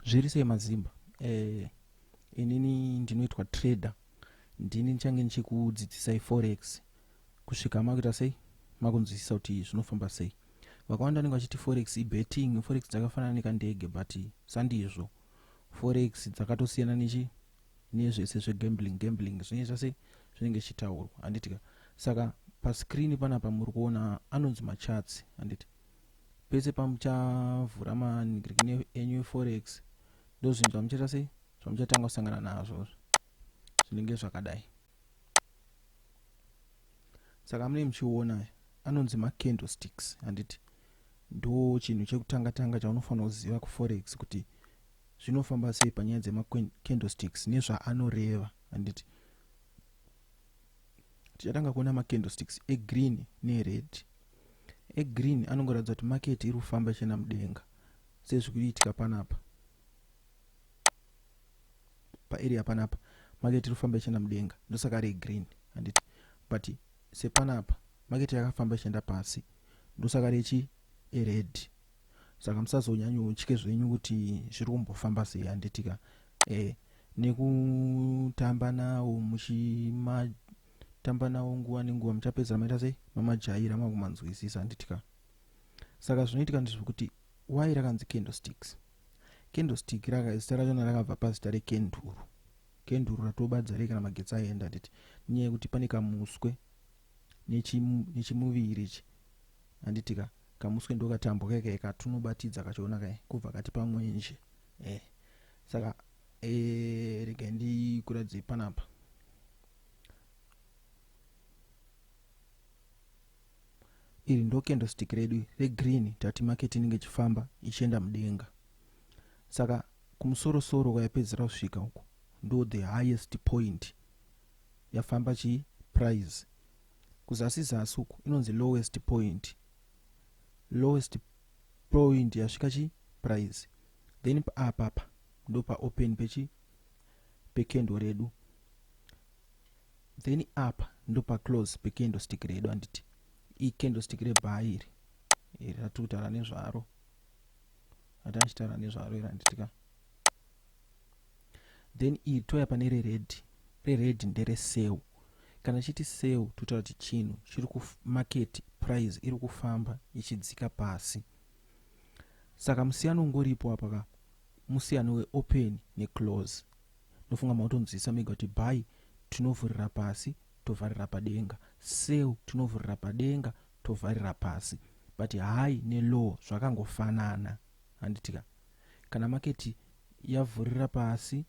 zviri sei mazimba eh, inini ndinoitwa trader ndini ndichange ndichikudzidzisai forex kusvika makuita sei makunzwisisa kuti zvinofamba sei vakawanda vanenge vachiti forex ibetting forex dzakafanana nekandege but sandizvo forex dzakatosiyana nechi nezvese zvegambling gambling zvinenge zvase zvinenge zvichitaurwa handitika saka pascreen panapa muri kuona anonzi macharts handiti pese pamuchavhura manigirikini enyu eforex ndozvinhu zvamuchaita sei zvamuchatanga kusangana nazvo zvinenge zvakadai saka mune muchiona anonzi macandlesticks handiti ndo chinhu chekutanga tanga chaunofanira kuziva kuforex kuti zvinofamba sei panyaya dzemacandlesticks nezvaanoreva handiti tichatanga kuona macandlesticks egreen nered egreen anongoratidza kuti market iri kufamba ichienda mudenga sezviri kuitika panapa paarea panapa market iri kufamba ichienda mudenga ndosaka ari egreen handiti but sepanapa market yakafamba ichienda pasi ndosaka rechi ered saka musazonyanyotye zvenyu kuti zviri kumbofamba sei handitika e, eh, nekutamba nawo muchima tamba nawo nguva nenguva muchapedzera maita sei mamajaira makumanzwisisa handitika saka zvinoitika ndezvekuti wai rakanzi candlesticks candlestick raka zita rachona rakabva pazita rekenduru kenduru ratobadza rei kana magetsi aenda handiti nenyaya yekuti pane kamuswe nechimuviri ichi handitika kamuswe ndokatambwa kaikae katunobatidza kachiona kae kubva kati pamwenje eh saka eh rega ndikuratidze panapa iri ndo candlestick redu regreen tati market inenge ichifamba ichienda mudenga saka kumusorosoro kwayapedzera kusvika uku ndo the highest point yafamba chii price kuzasi zasi uku inonzi lowest point lowest point yasvika chi price then apa apa ndopa open pechi pekendo redu then apa ndopa close pecandlestick redu handiti icandlestick rebhaa iri iri ratiri kutaura nezvaro ati achitaura nezvaro iri handitika then iri touya pane rered rered ndere sell kana chiti sell totaura kuti chinhu chiri kumarket price iri kufamba ichidzika pasi saka musiyano ungoripo apa ka musiyano weopen neclose Ndofunga mautonzwisisa mega kuti by tinovhurira pasi tovharira padenga, sell tinovhurira padenga tovharira pasi but high nelow zvakangofanana handitika. Kana market yavhurira pasi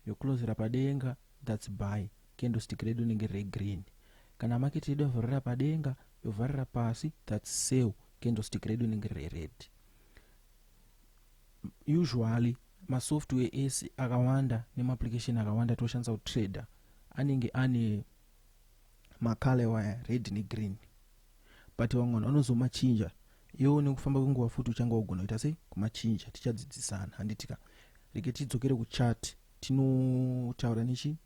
yoclosera padenga that's buy candlestick redu rinenge riri green. Kana market yedu yavhurira padenga yovharira pasi that's sell candlestick redu rinenge riri red. Usually masoftware ese akawanda nemaapplication akawanda toshandisa kutrader anenge ane macolor waya red negreen but vamwe vanhu vanozomachinja iwo nekufamba kwenguva futi uchanga wagona kuita sei kumachinja tichadzidzisana handitika reke tidzokere kuchat tinotaura nechi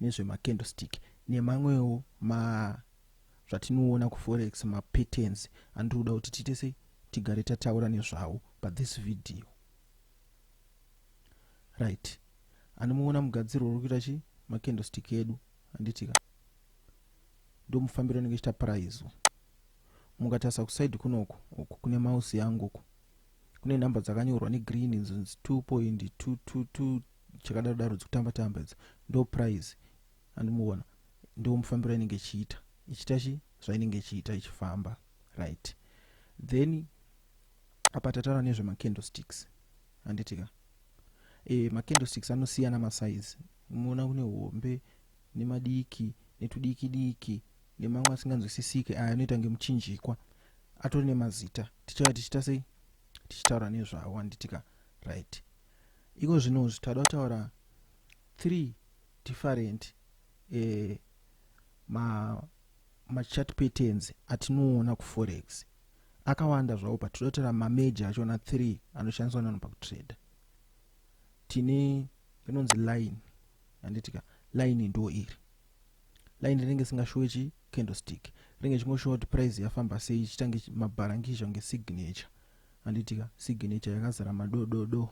nezvemacandlestick nemamwewo ma zvatinoona kuforex mapatterns andiri kuda kuti tiite sei tigare tataura nezvawo pathis video right anomuona mugadzirwo uri kuita chii makendostik edu handitika ndomufambiro anenge chitaparaidzwa mukatarisa kusaidi kunoko uku kune mausi yangu uku kune nhamba dzakanyorwa negreen idzo 2.222 chakadaro daro dzikutamba tamba idzo ndo prize andimuona ndo mufambiro inenge ichiita ichiita chi zvainenge ichiita ichifamba right then apa tataura nezvemacandlesticks handiti ka e, macandlesticks anosiyana masaizi unoona kune hombe nemadiki netudiki diki nemamwe asinganzwisisike aya anoita ngemuchinjikwa atori nemazita tichava tichiita sei tichitaura nezvawo handiti ka right iko zvinozvi tada kutaura three different eh, ma machart patterns atinoona kuforex akawanda zvawo but totora mameja achona 3 anoshandiswa nanhu pakutrader tine rinonzi line handitika line ndo iri line rinenge singashowe chi candlestick rinenge chingoshowa kuti price yafamba sei chitange mabharangizha kunge signature handitika signature yakazara madododo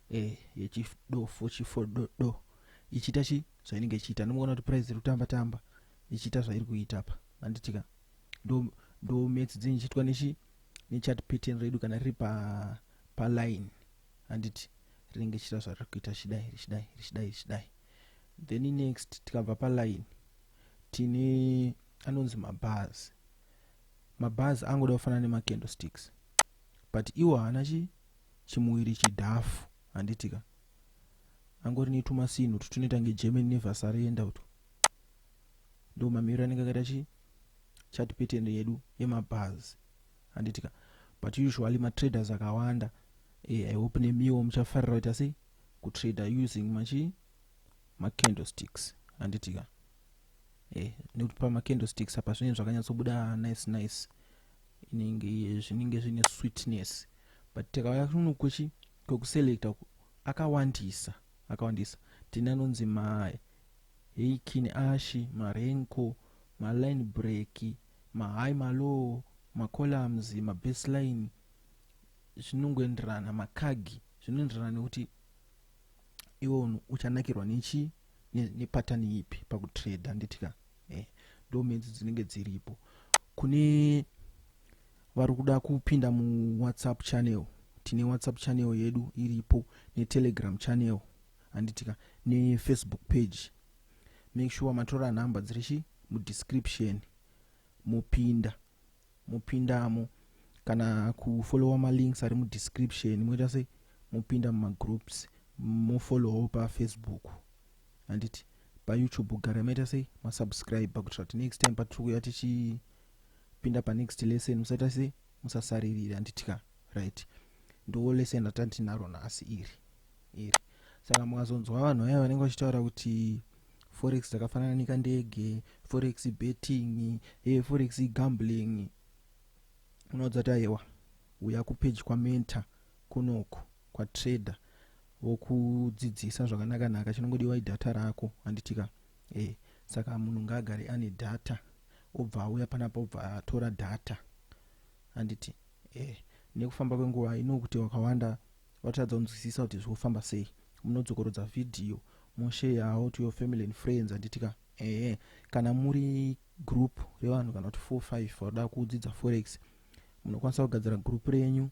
e eh, yechidofo chifododo ichiita chi zvainenge ichiita ndimoona kuti price iri kutamba tamba ichiita zvairi kuita apa handitika ndo ndo maths dzenyu ichiitwa nechi nechat pattern redu kana riri pa paline handiti rinenge chiita zvariri kuita chidai richidai richidai richidai then next tikabva paline tine anonzi mabars mabars angoda kufanana nemacandle sticks but iwo haana chi chimuwiri chidhafu handitika angori netumasinhu tutunoita ngegerman nevasarenda uto ndo mamiriro anenge akaita chi chat pattern yedu yemabhazi handitika but usually matraders akawanda eh, i hope nemiwo muchafarira kuita sei kutrader using machi macandlesticks handitika eh, nekuti pamacandlesticks apa zvinenge zvakanyatsobuda nice nice inenge zvinenge zvine sweetness but tikauya kuno kwechi kwekuselecta akawandisa akawandisa tine anonzi ma Hey Kin Ashy, ma Renko, ma Line Break, ma High ma Low, ma Columns, ma Bass Line zvinongoenderana ma Kag zvinoenderana nekuti iwe unhu uchanakirwa nechi ne pattern ipi paku trade handiti ka eh ndo menzi dzinenge dziripo kune vari kuda kupinda mu WhatsApp channel tine WhatsApp channel yedu iripo ne Telegram channel handitika nefacebook page make sure matora number dziri chi mudescription mopinda mopindamo kana kufollowa malinks ari mudescription moita sei mopinda mumagroups mofollowawo pafacebook handiti payoutube gara maita sei masubscribe kuitira kuti next time patiri kuya tichipinda panext lesson musaita sei musasaririra handiti ka right ndiwo lesson ratantinaro nhasi iri iri saka mukazonzwa vanhu vaya vanenge vachitaura kuti forex dzakafanana nekandege forex betting e eh, forex gambling unoudza kuti ayewa uya kupeji kwamenta kunoko kwatrader vokudzidzisa zvakanakanaka chinongodiwa idhata rako handitika e eh, saka munhu ngaagare ane dhata obva auya panapa obva atora dhata handiti e eh, nekufamba kwenguva inokuti wakawanda Vatadza kunzwisisa kuti zvofamba sei. Munodzokorodza video mosheyawo to your family and friends handiti ka? Ehe. Kana muri group revanhu kana kuti 4 5 vanoda kudzidza forex munokwanisa kugadzira group renyu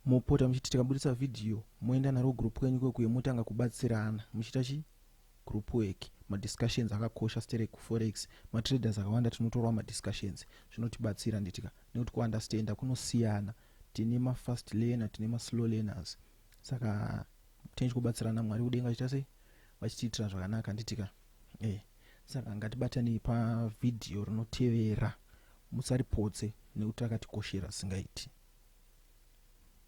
mopota muchiti tikabudisa video moenda naro group kwenyu kwekuye motanga kubatsirana muchiita chi group work madiscussions akakosha stere kuforex matraders akawanda tinotorwa madiscussions zvinotibatsira nditika nekuti kuunderstanda kunosiyana Tine ma fast learner tine ma slow learners saka tine chikubatsirana Mwari kudenga vachiita sei vachitiitira zvakanaka handitika eh saka ngatibatanei pa video rinotevera musaripotse nekuti rakatikoshera singaiti.